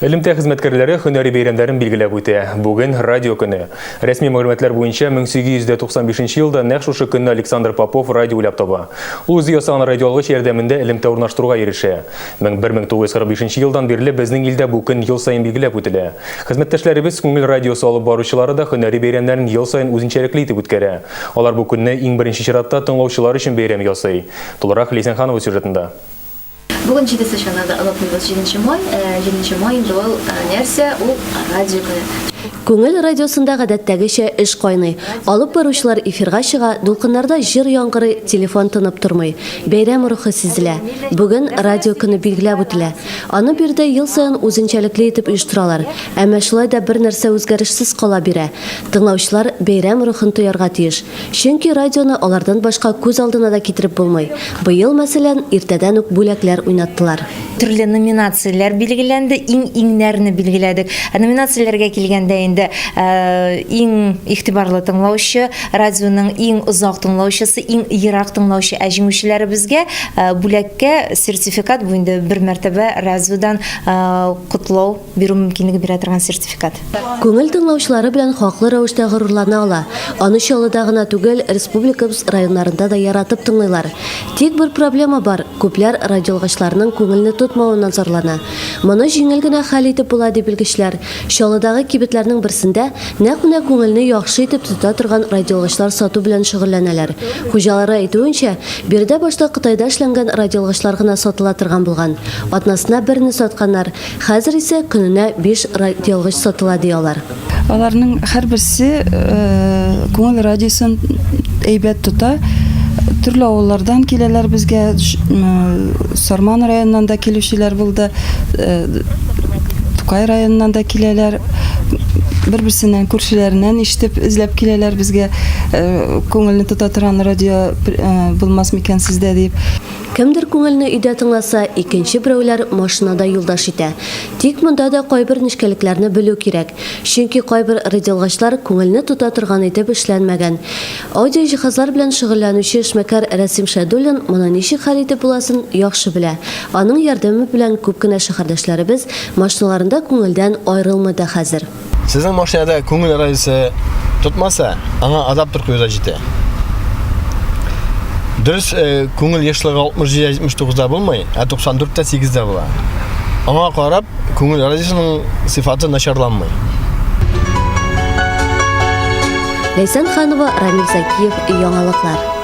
Элемтә хезмәткәрләре һөнәри бәйрәмнәрен билгеләп үтә. Бүген радио көне. Рәсми мәгълүматлар буенча 1895 елда нәкъ шушы көнне Александр Попов радио уйлап таба. Ул үзе ясаган радиоалгыч ярдәмендә элемтә урнаштыруга ирешә. 1945 елдан бирле безнең илдә бу көн ел саен билгеләп үтелә. Хезмәттәшләребез, күңел радиосы алып баручылары да һөнәри бәйрәмнәрен ел саен үзенчәлекле итеп үткәрә. Алар бу көнне, иң беренче чиратта, тыңлаучылар өчен бәйрәм ясый. Тулырак Ләйсән Ханова сюжетында. Бүген җидесе чана да онытмыйбыз. Җиденче май, җиденче май инде ул нәрсә? Ул радио көне. Күңел радиосында гадәттәгечә эш кайный. Алып баручылар эфирга чыга, дулкыннарда җыр яңгырый, телефон тынып тормый. Бәйрәм рухы сизелә. Бүген радио көне билгеләп үтелә. Аны биредә ел саен үзенчәлекле итеп оештыралар. Әмма шулай да бер нәрсә үзгәрешсез кала бирә. Тыңлаучылар бәйрәм рухын тоярга тиеш. Чөнки радионы алардан башка күз алдына да китереп булмый. Быел, мәсәлән, иртәдән үк бүләкләр уйнаттылар. Төрле номинацияләр билгеләнде, иң-иңнәрне билгеләдек. Ә номинацияләргә килгәндә инде, иң игътибарлы тыңлаучы, радионың иң озак тыңлаучысы, иң ерак тыңлаучы. Ә җиңүчеләребезгә бүләккә сертификат, бу инде бер мәртәбә радиодан котлау. бирү мөмкинлеге бирә торган сертификат. Күңел тыңлаучылары белән хаклы рәвештә горурлана ала. Аны Чаллыда гына түгел, республикабыз районнарында да яратып тыңлыйлар. Тик бер проблема бар, күпләр радиоалгычларның күңелне тотмавыннан зарлана. Моны җиңел генә хәл итеп була, ди белгечләр. Чаллыдагы кибетләрнең берсендә нәкъ менә күңелне яхшы итеп тота торган радиоалгычлар сату белән шөгыльләнәләр. Хуҗалары әйтүенчә, биредә башта Кытайда эшләнгән радиоалгычлар гына сатыла торган булган. Атнасына берне сатканнар. Хәзер исә көненә биш радиоалгыч сатыла, ди алар. Аларның һәрберсе э, күңел радиосын әйбәт тота. Төрле авыллардан киләләр безгә, Сарман районыннан да килүчеләр булды, э, Тукай районыннан да киләләр. Бер-берсеннән күршеләреннән ишетеп эзләп киләләр безгә э, күңелне тота торган радио булмас микән сездә дип. Кемдер күңелне өйдә тыңласа, икенче берәүләр машинада юлдаш итә. Тик монда да кайбер нечкәлекләрне белү кирәк. Чөнки кайбер радиоалгачлар күңелне тота торган итеп эшләнмәгән. Аудиоҗиһазлар белән шөгыльләнүче эшмәкәр Рәсим Шәйдуллин моны ничек хәл итеп буласын яхшы белә. Аның ярдәме белән күп кенә шәһәрдәшләребез машиналарында күңелдән аерылмый да хәзер. Сезнең машинада күңел радиосы тотмаса, аңа адаптер куюда җитә. Дөрес, э, күңел ешлыгы 67-79-да булмый, ә 94-тә 8-дә була. Аңа карап, күңел радиосының сыйфаты начарланмый. Ләйсән Ханова, Рамил Закиев, яңалыклар.